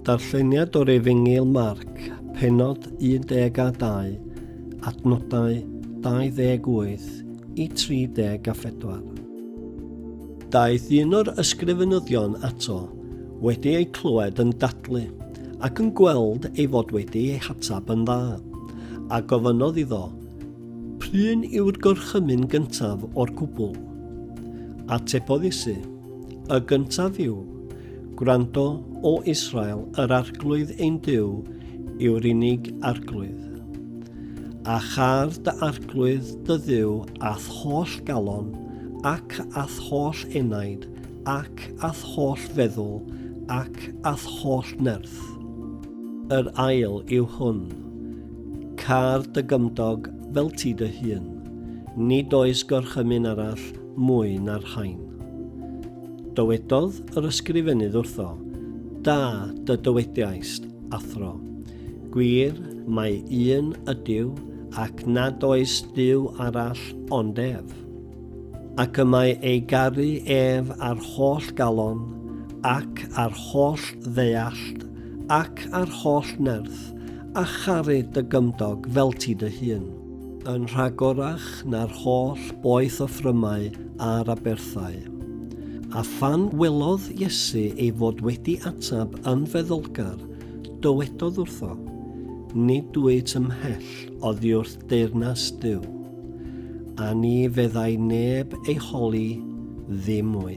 Darlleniad o'r Efengyl Marc, penod 1 a 2, adnodau 28 i 34. Daeth un o'r ysgrifenyddion ato, wedi ei clywed yn dadlu, ac yn gweld ei fod wedi ei hatab yn dda, a gofynnodd iddo, Pryn yw'r gorchymyn gyntaf o'r cwbl? Atebodd Iesu, Y gyntaf yw, Gwrando, O Israel, yr arglwydd ein Duw yw'r unig arglwydd. A char dy arglwydd dy dduw a'th holl galon, ac a'th holl enaid, ac a'th holl feddwl, ac a'th holl nerth. Yr ail yw hwn, Car dy gymdog fel ti dy hun. Nid oes gorchymyn arall mwy na'r rhain. Dywedodd yr ysgrifenydd wrtho, Da, dy dywediaist, athro. Gwir, mae un ydyw, ac nad oes Duw arall ond ef. Ac y mae ei garu ef ar holl galon, ac ar holl ddeallt, ac ar holl nerth, a charu dy gymdog fel ti dy hun. yn rhagorach na'r holl boeth o ffrymau a'r aberthau. A phan welodd Iesu ei fod wedi atab yn feddylgar, dywedodd wrtho, Nid dwyt ymhell oddi wrth deyrnas Duw. A ni feddai neb ei holi ddim mwy.